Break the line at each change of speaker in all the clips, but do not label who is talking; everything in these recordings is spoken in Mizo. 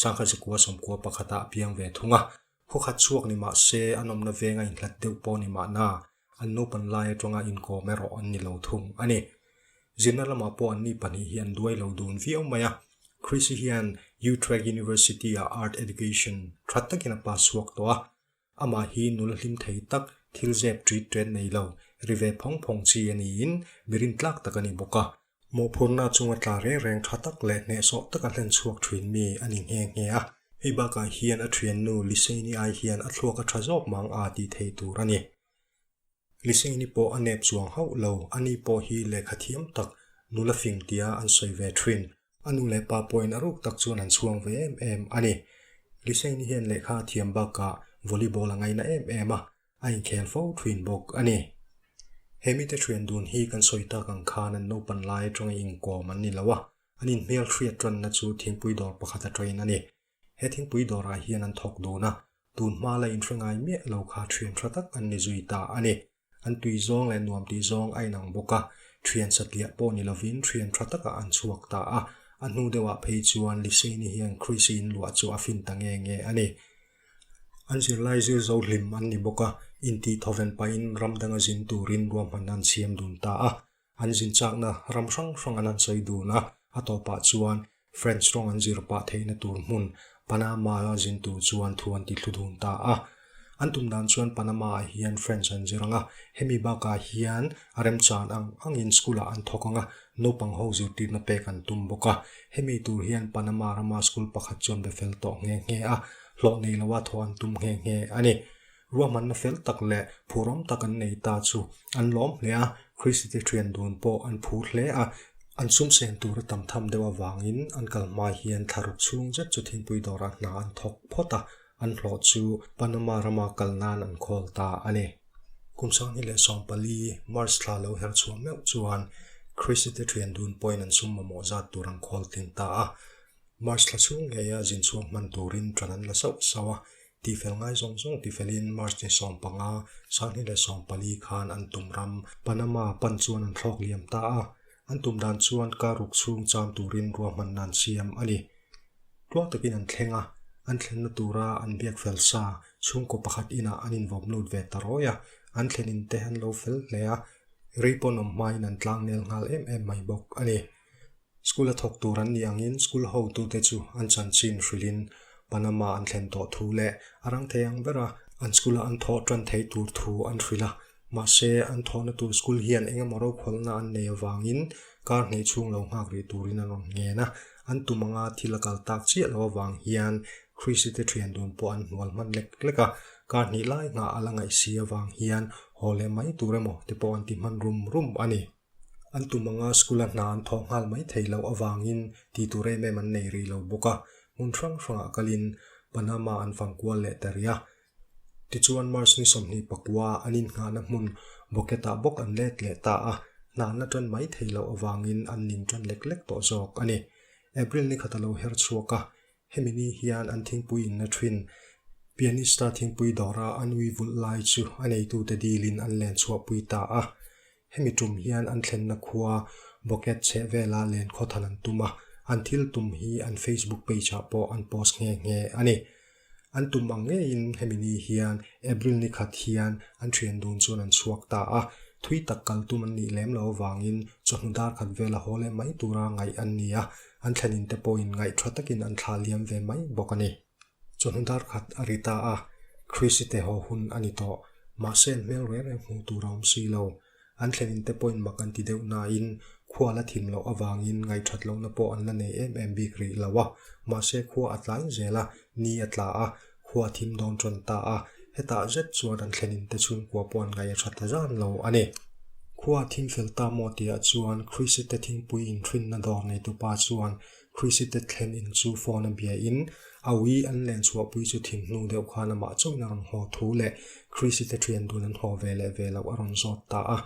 Sangha Sikua sawmkua pakhata a piang ve thung a, khuakhat chhuak ni mah se an awmna veng a inhlat deuh pawh ni mah na, an naupan lai atanga inkawm erawh an ni lo thung a ni. Zinna lamah pawh an mi pahnih hi an duai lo dun viau mai a. Chrissy hian Utrecht University-ah Art Education that takin a pass chhuak tawh a, Amah hi nula hlim thei tak, thil zep ṭît ṭên nei lo, ri ve phawng phawng chi a niin mirin tlâk tak a ni bawk a. Mawhphurhna chunga tla reng reng ṭha tak leh hneh sawh taka hlen chhuak ṭhînmi a ni nghe nghe a. Hei bâkah hian a ṭhiannu Lisei-ni ai hian a thluak a ṭha zâwk mang a tih thei tûr a ni. Liseini pawh a nep chuang hauh lo, ani pawh hi lehkha thiam tak, nula fim tia an sawi ve thin. A nu leh pa pawhin a ruk tak chuan an chhuang ve em em a ni. Liseini hian lehkha a thiam bakah volleyball a ngaina em em a, a inkhel fo thin bawk a ni. He mite thian dun hi kan sawi tak ang khan an naupan lai atangin inkawm an ni lo a, an inhmel hriat tanna chu thingpui dawr pakhat atangin a ni. He thingpui dawrah hian an thawk dun a, tun hma la inhre ngai miah lo kha thian tha tak an ni zui ta a ni. An tui zawng leh nuam tih zawng a inang bawk a, thian satliah pawh ni lovin thian tha takah an chhuak ta a. A hnu deuhah phei chuan Liseini hian Chris-i inluah chu a fin ta nge nge a ni. An zirlai zir zo hlim an ni bawk a, inti thawven pahin ram danga zin turin ruahman an siam dun ta a. an zin chakna ram hrang hrang an han sawi dun a, a tawpah chuan French rawng an zir pah theihna tur hmun Panama-a zin tur chuan thu an ti thlu dun ta a. An tum dan chuan Panama-ah hian French an zir ang a, hemi bakah hian a remchan ang angin school-ah an thawk ang a, naupang ho zirtirna pek an tum bawk a, hemi tur hian Panama rama school pakhat chuan be fel tawh nghe nghe a, hlawh nei loh a thaw an tum nghe nghe a ni. Ruahmanna fel tak leh phuram tak an nei ta chu an lawm hle a, Kristite thian dun pawh an phu hle a, an sumsen tura tam tham deuh avangin an kal hmai hian thla ruk chhung zet chu thingpui dawrah hna an thawk phawt a, an hlawh chu Panama rama kal nan an call ta a ni. Kum sanghnih leh sawm pali, March, thla lo herh chhuah meuh chuan Kristite thian dun pawhin an sum mamawh zat tur an call tling ta a, March thla chhung ngeia zin chhuak hman turin tan an la sauh sauh a, Tihfel ngai zawng zawng ti felin March-ni sawm panga, Sanghni leh sawm pali khan an tum ram Panama pan chuan an thlawk liam ta a. An tum dan chuan kar uk chhung cham turin ruahmanna an siam a ni. Tluang takin an thleng a, an thlenna tura an biak fel sa chhungkaw pakhat inah an invawp lut ve ta rawi a. An thlen inte an lo fel hle a, rei pawn awm hmain an tlangnel nghal em em mai bawk a ni. School a thawk tur an nih angin school hotute chu an chanchin hrilhin Panama an thlen tawh thu leh a rang thei ang bera an school a an thawh tan thei tur thu an hrilh a. Mahse, an thawhna tur school hian engemaw rokhawlna an nei avangin kar hneih chhung lo nghak rih turin an rawn ngen a. An tum anga thil a kal tak chiah lo avang hian Chrisite thian dun pawh an hnual hman lek lek a. Kar hnih lai hnga a la ngaihsi avang hian haw leh mai tur emaw te pawh an ti hman rum rum a ni. An tum anga school-a hna an thawh nghal mai thei loh avangin ti tur em em an nei rih lo bawk a. Hmun hrang hrangah kalin Panama an fangkual leh ta ria. Tichuan March ni sawmhnih pakua an inngahna hmun Boquete-ah bawk an let leh ta a. Hna an la tan mai thei loh avangin an ning tan lek lek tawh zawk a ni. April ni khat a lo her chhuak a, hemi ni hian an thingpui inna thin Pianista thingpui dawra an ui vulh lai chu a neitute dilin an len chhuahpui ta a. Hemi tum hian an thlenna khua Boked chheh vela len khawthan an tum a, an thil tum hi an Facebook page ah pawh an post nghe nghe a ni. An tum ang ngeiin hemi ni hian April ni khat hian an thian dun chuan an chhuak ta a, thui tak kal tum an nih lem lo avangin chawhnu dar khat vel a haw leh mai tura ngaih an ni a, an thlenin te pawhin ngaih tha takin an thlah liam ve mai bawk a ni. Chuan dar khat a ri ta a, Chrisite haw hun a ni tawh, mahse an hmel reng reng hmuh tur a awm si lo. An thlen in te pawhin mak an ti deuh nain khua la thim loh avangin ngaihṭhat lohna pawh an la nei em em bik rih lo a, mahse khua a tlai zel a, ni a tla a, khua thim dawn ṭawn ta a, hetah zet chuan an thlen in te chhungkua pawh an ngaih a ṭha ta zan lo a ni. Khua a thim fel ta maw tihah chuan Chrisite thingpui inthinna dawr neitu pa chuan Chrisite thlen in chu phone a bia in a ui an len chhuah pui chu thim hnu deuh khan amah chauhin a rawn haw thu leh Chrisite thian dun an haw ve leh ve loh a rawn zawt ta a.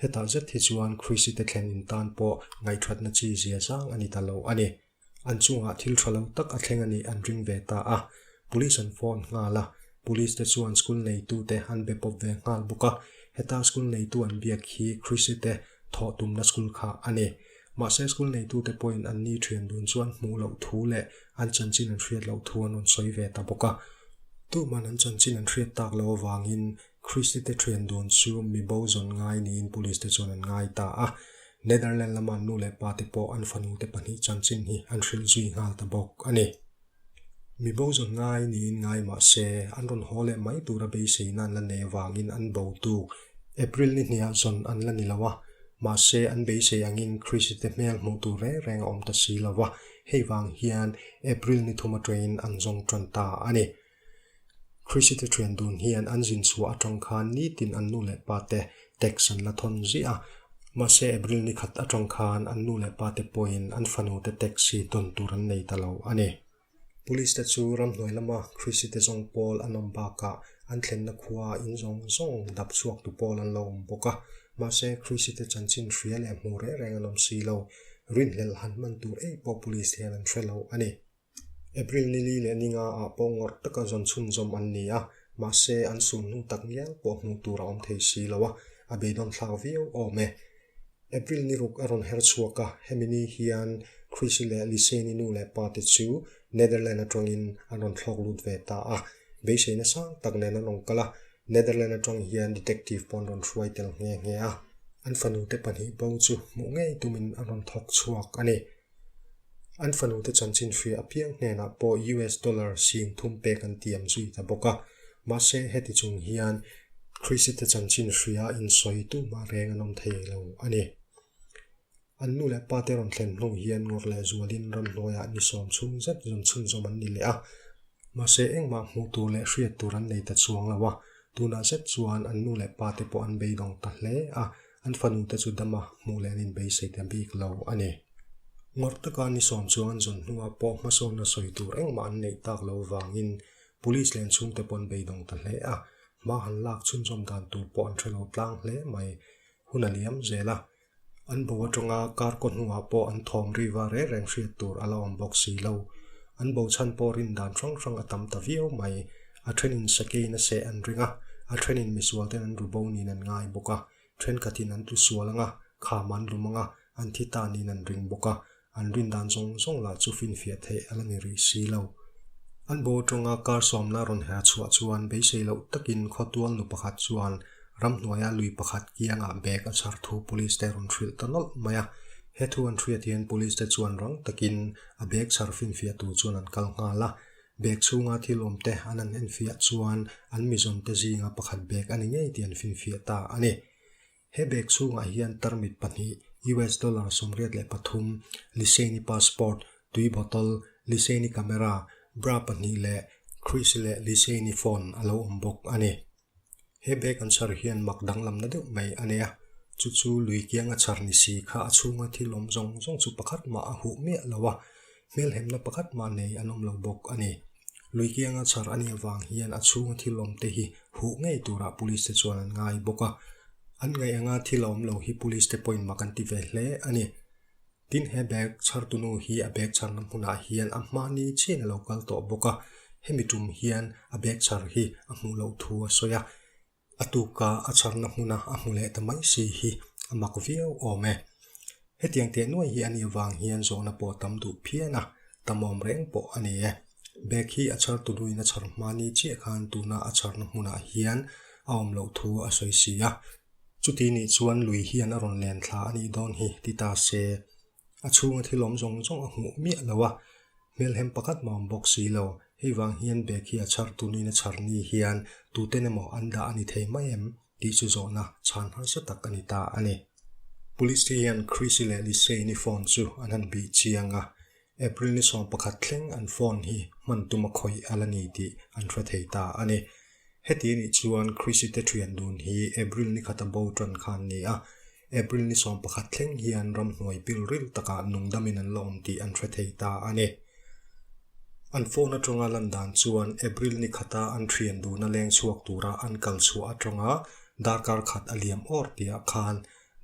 Hetah zet hi chuan Chrisite thlen in tan pawh ngaihṭhatna chi zia zang a ni ta lo a ni. An chungah thil ṭha lo tak a thleng a nih an ring ve ta a. Police an phone nghal a. Police te chuan school neitute an be pawp ve nghal bawk a. Heta school neitu an biak hi Chrisite thawh tumna school kha a ni. Mahse, school neitute pawhin an ni thian dun chuan hmuh loh thu leh an chanchin an hriat loh thu an rawn sawi ve ta bawk a. Tuman an chanchin an hriat tak lo avangin Kristite thian dun chu mi bo zawn ngai niin Police-te chuan an ngai ta a. Netherland lama nu leh pate pawh an fanute pahnih chanchin hi an hrilh zui nghal ta bawk a ni. Mi bozawn ngai niin ngai mah se, an rawn haw leh mai tura beiseina an la nei avangin an bo tuk. April ni hnih ah zawn an la ni lo a, mahse an beisei angin Chrisite hmel hmuh tur reng reng a awm ta si lo va, hei vang hian April ni thum atangin an zawng tan ta a ni. Krisite thian dun hian an zin chhuah atang khan nitin an nu leh pa te text an la thawn ziah a, mahse April ni khat atang khan an nu leh pa te pawhin an fanu te text hi tawn tur an nei ta lo a ni. Police te chu ram hnuai lama Krisite zawng pawl an awm bakah an thlenna khua in zawng zawng dap chhuak tu pawl an lo awm bawk a, mahse Krisite chanchin hria leh hmuh reng reng an awm si lo, rinhlelh han hman tur ei pawh Police hian an hre lo a ni. April nili leh ninga ah pawh ngawrh taka zawn chhunzawm an ni a, mahse an sun hnu tak ngial pawh hmuh tur a awm thei si lo a, a beidawn thlak viau awm e. April ni ruk a rawn her chhuak a, hemi ni hian Chrissy leh Liseni nu leh pa te chu Netherland atangin an rawn thlawk lut ve ta a, beiseina sang tak nen an awm kal a, Netherland atang hian detective pawh an rawn hruai tel nghe nghe a. An fanu te pahnih bo chu hmuh ngei tumin an rawn thawk chhuak a ni. An fanute chanchin hria apiang hnenah pawh US dollar sin thum pek an ti ang zui ta bawk a. Mahse, heti chung hian Chrisite chanchin hria insawi tuhma reng an awm thei lo a ni. An nu leh pate rawn thlen hnu hian ngawr leh zualin ramhnuaiah ni sawm chhung zet zun chhunzawm an ni leh a. Mahse, engmah hmuh tur leh hriat tur an nei ta chuang lo a. Tunah zet chuan an nu leh pate pawh an beidawng ta hle a. An fanu te chu dama hmuh leh an inbeisei te bik lo a ni. Ngawr taka ni sawm chuan zawn hnunga pawh hmasawnna sawi tur engmah an neih tak lo vangin Police leh an chhungte pawh an beidawng ta hle a, hma han lak chhunzawm dan tur pawh an hrelo tlang hle mai. Hun a liam zel a, an bo aṭanga kar kaw hnungah pawh an thawm riva reng reng hriat tur a lo awm bawk si lo. An bo chhan pawh rindan hrang hrang a tam ta viau mai. A thenin sakeiin a seh an ring a, a thenin misualten an ru bo niin an ngai bawk a, thenkhat hin an tlu sual anga, kham an lum anga, an thi ta niin an ring bawk a, an rin dan zawng zawng lah chu finfiah theih a la ni rih si lo. An bo tawngah kar sawmna a rawn herh chhuah chuan beisei loh takin khawtual nu pakhat chuan ramhnuaia lui pakhat kiangah bag a chhar thu police te rawn hrilh ta nawlh mai a. He thu an hriat hian police te chuan rang takin a bag chhar finfiah tur chuan an kal nghal a, Bag chhunga thil awm te an han enfiah chuan an mizawmte zinga pakhat bag a ni ngei tih an finfiah ta a ni. He bag chhungah hian tarmit pahnih, US dollar sawmriat leh pathum, Liseni passport, tui bottle, Liseni camera, bra pahnih leh Chris leh Liseni phone a lo awm bawk a ni. He bag an chhar hian mak danglamna deuh mai a nei a, chu chu lui kianga chhar ni si kha a chhunga thil awm zawng zawng chu pakhat mah a huh miah lo a, hmelhemna pakhat mah nei an awm lo bawk a ni. Lui kianga chhar a nih avang hian a chhunga thil awm te hi huh ngei turah Police te chuan an ngai bawk a, an ngaih anga thil a awm lo hi Police te pawhin mak an ti ve hle a ni. Tin, he bag chhartunu hi a bag chharna hmunah hian a hmahni chian a lo kal tawh bawk a, hemi tum hian a bag chhar hi a hmuh loh thu a sawi a, a tuka a chharna hmuna a hmu leh ta mai si hi a mak viau awm e. Hetiang teh nuai hi a nih avang hian zawhna pawh tam duh phian a, tam awm reng pawh a ni e. Bag hi a chhartunuin a chhar hmahni chiah khan tuna a chharna hmunah hian a awm loh thu a sawi si a, Chuti nih chuan lui hian a rawn len thla a nih dawn hi ti ta se. A chhunga thil awm zawng zawng a hmuh miah lo a, hmelhem pakhat maw awm bawk si lo. Hei vang hian bag hi a chhar tu niin a chhar ni hian tuten emaw an dah a ni thei mai em? tih chu zawhna chhan harsa tak a ni ta a ni. Police te hian Chrissy leh Lisey-ni phone chu an han bih chiang a. April ni sawm pakhat thleng an phone hi hman tuma khawih a la ni tih an hre thei ta a ni. Heti nih chuan Chrisite thian dun hi April ni khata bo tan kha an ni a, April ni sawm pakhat thleng hian ram hnuai pilril takah nungdamin an la awm tih an hre thei ta a ni. An phone atanga lan dan chuan April ni khata an thian dun a leng chhuak tura an kal chhuah atanga darkar khat a liam awr piah khan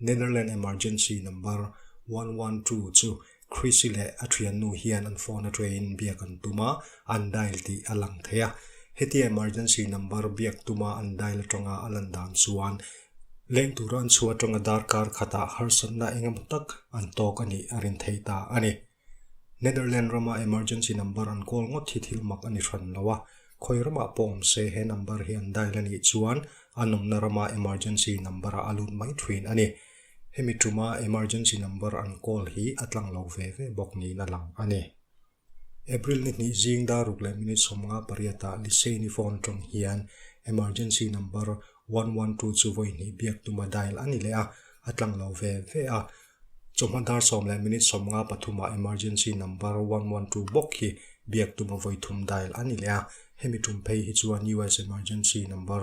Netherlands Emergency Number one one two chu Chrissy leh a thiannu hian an phone atangin biak an tum a, an dial tih a lang thei a. Hetia emergency number biak tuma an dial atanga a lan dan chuan leng tura an chhuat atanga darkar khatah harsatna engemaw tak an tawk a nih a rin thei ta a ni. Netherlands rama emergency number an call ngawt hi thil mak a ni hran lo a. Khawi ramah pawh awm se he number hi an dial a nih chuan a nawmna rama emergency number-ah a lut mai thin a ni. Hemi ṭuma emergency number an call hi a tlang lo ve ve bawk niin a lang a ni. April ni hnih zing daruk leh minute sawmnga pariatah Liseini phone ṭawng hian emergency number one one two chu vawi hnih biak tuma dial a ni leh a, a tlang lo ve ve a. Chawhma dar sawm leh minute sawmnga pathumah emergency number one one two bawk hi biak tuma vawi thum dial a ni leh a. Hemi ṭum phei hi chuan US emergency number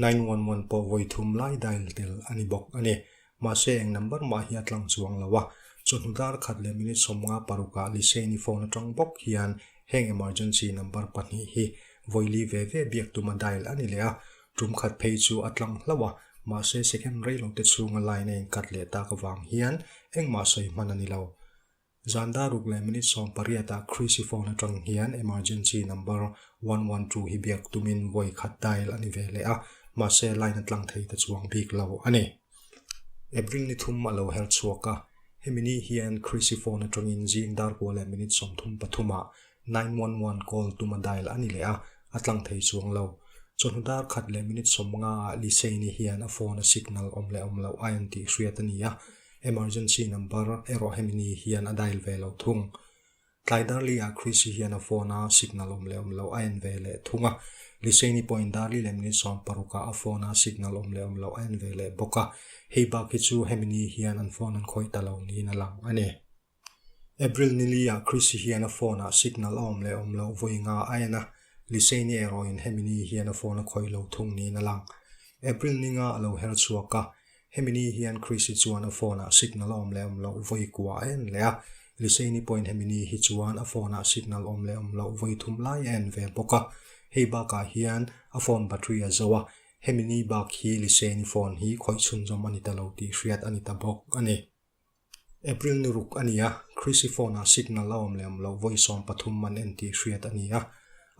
nine one one pawh vawi thum lai dial tel a ni bawk a ni. Mahse eng number mah hi a tlang chuang lo a. Chawhnu darkhat leh minute sawmnga parukah Lisei-ni phone atang bawk hian heng emergency number pahnih hi vawili ve ve biak tuma dial a ni leh a. Tum khat phei chu a tlang hlauh a, mahse second reilote chhunga line a inkat leh tak avang hian engmah sawi hman a ni lo. Zanda ruk leh minute sawm pariatah Chrisy phone atang hian emergency number one one two hi biak tumin vawi khat dial a ni ve leh a, mahse line a tlang thei ta chuang bik lo a ni. App ring ni thum a lo herh chhuak a, hemi ni hian Chrisy phone atangin zing dar kua leh minute sawm thum pathumah Nine one one call tuma dial a ni leh a, a tlang thei chuang lo. Chawhnu dar khat leh minute sawmnga ah Liseini hian a phone a signal awm leh awm loh a en tih hriat a ni a, emergency number erawh hemi ni hian a dial ve lo thung. Tlai darli ah Chrissy hian a phone a signal awm leh awm loh a en ve leh thung a, Liseini pawhin darli leh minute sawm paruk ah a phone a signal awm leh awm loh a en ve leh bawk a, hei bak hi chu hemi ni hian an phone an khawih ta lo niin a lang a ni. April niliah Chrissy hian a phone ah signal a awm leh awm loh vawi nga a en a, Liseni erawhin hemi ni hian a phone a khawih lo thung niin a lang. April ninga a lo her chhuak a, hemi ni hian Chrissy chuan a phone ah signal a awm leh awm loh vawi kuah a en leh a, Liseni pawhin hemi ni hi chuan a phone ah signal awm leh awm loh vawi thum lai a en ve bawk a, hei bakah hian a phone battery a zo a, hemi ni bak hi Liseni phone hi khawih chhunzawm a ni ta lo tih hriat a ni ta bawk a ni. April ni ruk a ni a, Chrissy phone-ah signal a awm leh awm loh vawi sawm pathum an en tih hriat a ni a.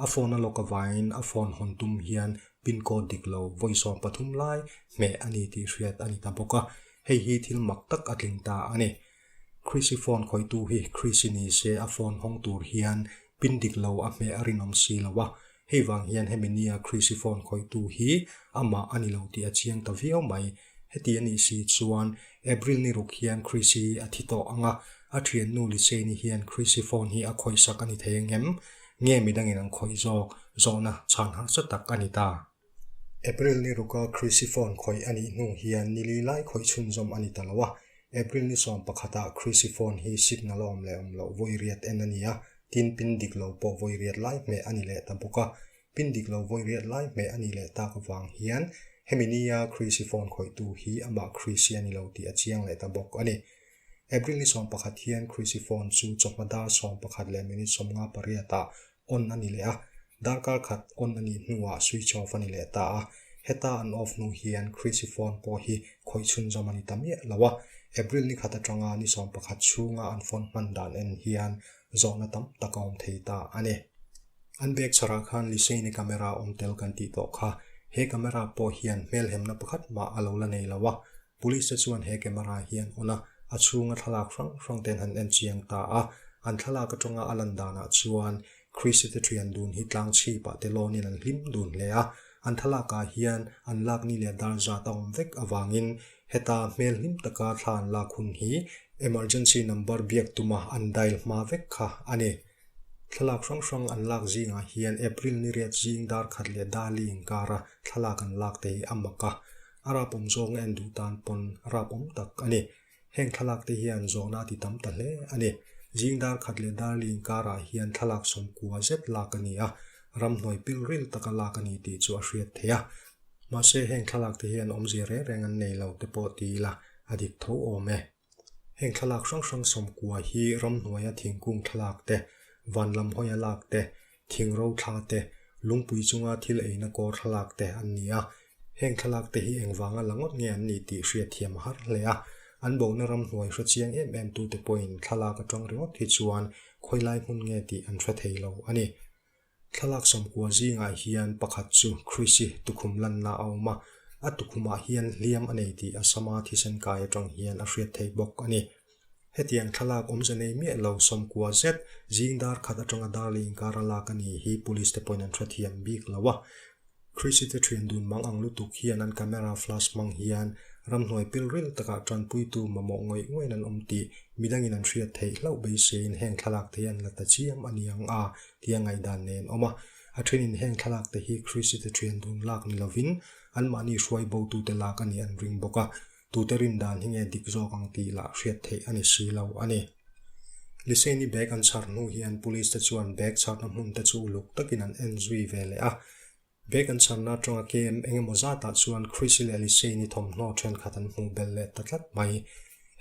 A phone a lock avangin a phone hawn tum hian pin code dik lo vawi sawm pathum lai hmeh a ni tih hriat a ni ta bawk a, hei hi thil mak tak a tling ta a ni. Chrissy phone khawitu hi Chrissy ni se a phone hawng tur hian pin dik lo a hmeh a rinawm si lo a, Hei vang hian hemi nia Chrisiphone khawitu hi amah a ni lo tih a chiang ta viau mai. Heti a nih si chuan April ni ruk hian Chrisi hi a thi tawh ang a, a thiannu Lise ni hian Chrisiphone hi a khawisak a ni thei ang em? Nge midangin an khawih zawk? Zawhna chhan harsa tak a ni ta. April ni ruka Chrisiphone khawih a nih hnu hian nili lai khawih chhunzawm a ni ta lo a. April ni sawm pakhatah Chrisiphone hi signal a awm leh awm loh vawi riat en a ni a, Tin, pin dik lo pawh vawi riat lai hmeh a ni leh ta bawk a. Pin dik lo vawi riat lai hmeh a nih leh tak avang hian, hemi nia Chrisy phone khawihtu hi amah Chrisy a ni lo tih a chiang leh ta bawk a ni. April ni sawm pakhat hian Chrisy phone chu chawhma dar sawm pakhat leh minute sawm nga pariatah on a ni leh a. Darkar khat on a nih hnuah switch off a ni leh ta a. Heta an off hnu hian Chrisy phone pawh hi khawih chhunzawm a ni ta miah lo a. April ni khat atanga ni sawm pakhat chhunga an phone hman dan en hian zawhna tam tak a awm thei ta a ni. An bag chhara khan Liseini camera awm tel kan tih tawh kha, he camera pawh hian hmelhemna pakhat mah a lo la nei lo a, Police te chuan he camera hian on a, a chhunga thlalak hrang hrang te an han en chiang ta a, an thlalak atanga a lan danah chuan Christy te thian dun hi tlang chhip ah te lawnin an hlim dun hle a, an thlalakah hian an lakni leh dar zat a awm vek avangin Heta hmel hlim taka thla an lak hun hi Emergency number biak tuma an dial hma vek kha a ni. Thlalak hrang hrang an lak zingah hian April ni riat zing dar khat leh Dali inkara thlalak an lak te hi a mak a, a rapawm zawnga en duh tan pawn rapawm tak a ni. Heng thlalak te hian zawhna ti tam ta hle a ni. Zing dar khat leh Dali inkarah hian thlalak sawm kua zet lak a ni a, ramhnuai pilril taka lak a ni tih chu a hriat theih a, Mahse, heng thlalakte hian awmzia reng reng an nei lo te pawh ti ila a dik tho awm e. Heng thlalak hrang hrang sawm kua hi ramhnuaia thingkung thlalak te, van lam hawiha lak te, thing ro thla te, lungpui chunga thil eina kawr thlalak te an ni a. Heng thlalak te hi engvanga la ngawt nge an nih tih hria thiam har hle a. An bohna ramhnuai hre chiang em em tute pawhin thlalak atang ringawt hi chuan khawi lai hmun nge tih an hre thei lo a ni. Thlalak sawmkua zingah hian pakhat chu Chrisy tukhum lanna a awm a, a tukhumah hian hliam a nei tih a Sama thisen kai atang hian a hriat theih bawk a ni. Hetiang thlalak awmze nei miah lo sawmkua zet zingdar khat atanga darley inkar a lak a nih hi Police te pawhin an hrethiam bik lo a. Chrisy-te ṭhin dun mang ang lutuk hian an camera flash hmang hian ramhnuai pilril takah ṭanpuitu mamawh ngawih ngawin an awm tih midangin an hriat theih hlauh beisiain heng thlalakte hi an la ta chiam a ni ang a tia ngaih dan nei an awm a. A ṭhenin heng thlalakte hi Chrisy-te ṭhian dun lak ni lovin anmahni hruai botute lak a nih an ring bawk a. tute rin dan hi nge dik zawk ang tih lah hriat theih a ni si lo a ni. Liseini bag an chhar hnu hian police te chuan bag chharna hmun te chu uluk takin an en zui ve leh a. Bag an chharna atanga kem eng emaw zatah chuan Chrissy leh Liseini thawmhnaw thenkhat an hmuh bel leh ta tlat mai.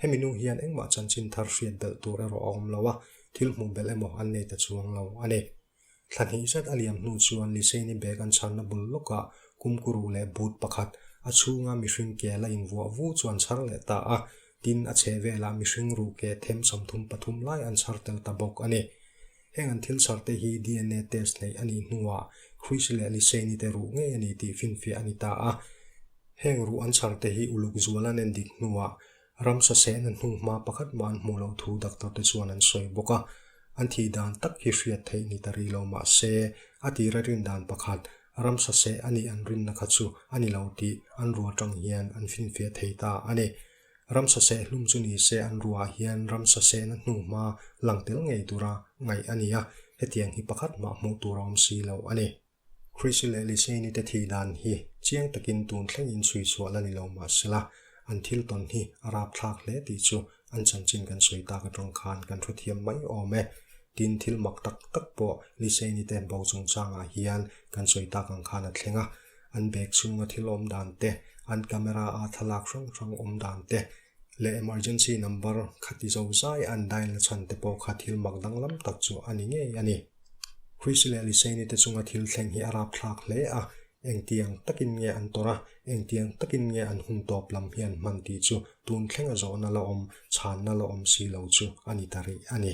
Hemi nu hian engmah chanchin thar hriat belh tur erawh a awm lo a, thil hmuh belh emaw an nei ta chuang lo a ni. Thla hnih zet a liam hnu chuan Liseni bag an chhanna bul lawkah kumkuru leh but pakhat a chhunga mihring ke la invuah vu chu an chhar leh ta a, tin a chhehvelah mihring ruh ke them samthum pathum lai an chhar tel ta bawk a ni. Heng an thil chharte hi DNA test hneih a nih hnuah Chris leh Liseni te ruh ngei a ni tih finfiah a ni ta a, heng ruh an chharte hi uluk zuala nen dik hnuah Ramsa seh na hnung hma pakhat mah an hmuh loh thu doctor te chuan an sawi bawk a, an thi dan tak hi hriat theih ni ta ri lo mahse a tira rin dan pakhat ramsa seh a nih an rinna kha chu a ni lo tih an rua tang hian an finfiah thei ta a ni. Ramsa seh hlum chu ni se an ruah hian ramsa seh na hnung hma lang tel ngei tura ngaih a ni a, hetiang hi pakhat mah hmuh tur a awm si lo a ni. Chris leh Liseini te thi dan hi chiang takin tun thlengin sawi chhuah la ni lo mah sela, an thil tawn hi a rap thlak hle tih chu an chanchin kan sawi tak atang khan kan hre thiam mai awm e. Tin, thil mak tak tak pawh Liseini te bo chungchangah hian kan sawi tak ang khan a thleng a. An bag chhunga thil awm dan te, an camera ah thlalak hrang hrang awm dan te, leh emergency number khati zo zai an dial nachhan te pawh kha thil mak danglam tak chu a ni ngei a ni. Chris leh Liseyni te chunga thil thleng hi a rap thlak hle a, engtiang takin nge an tawrh a, engtiang takin nge an hun tawp lam hi an hman tih chu tun thlenga zawhna la awm, chhanna la awm si lo chu a ni ta rih a ni.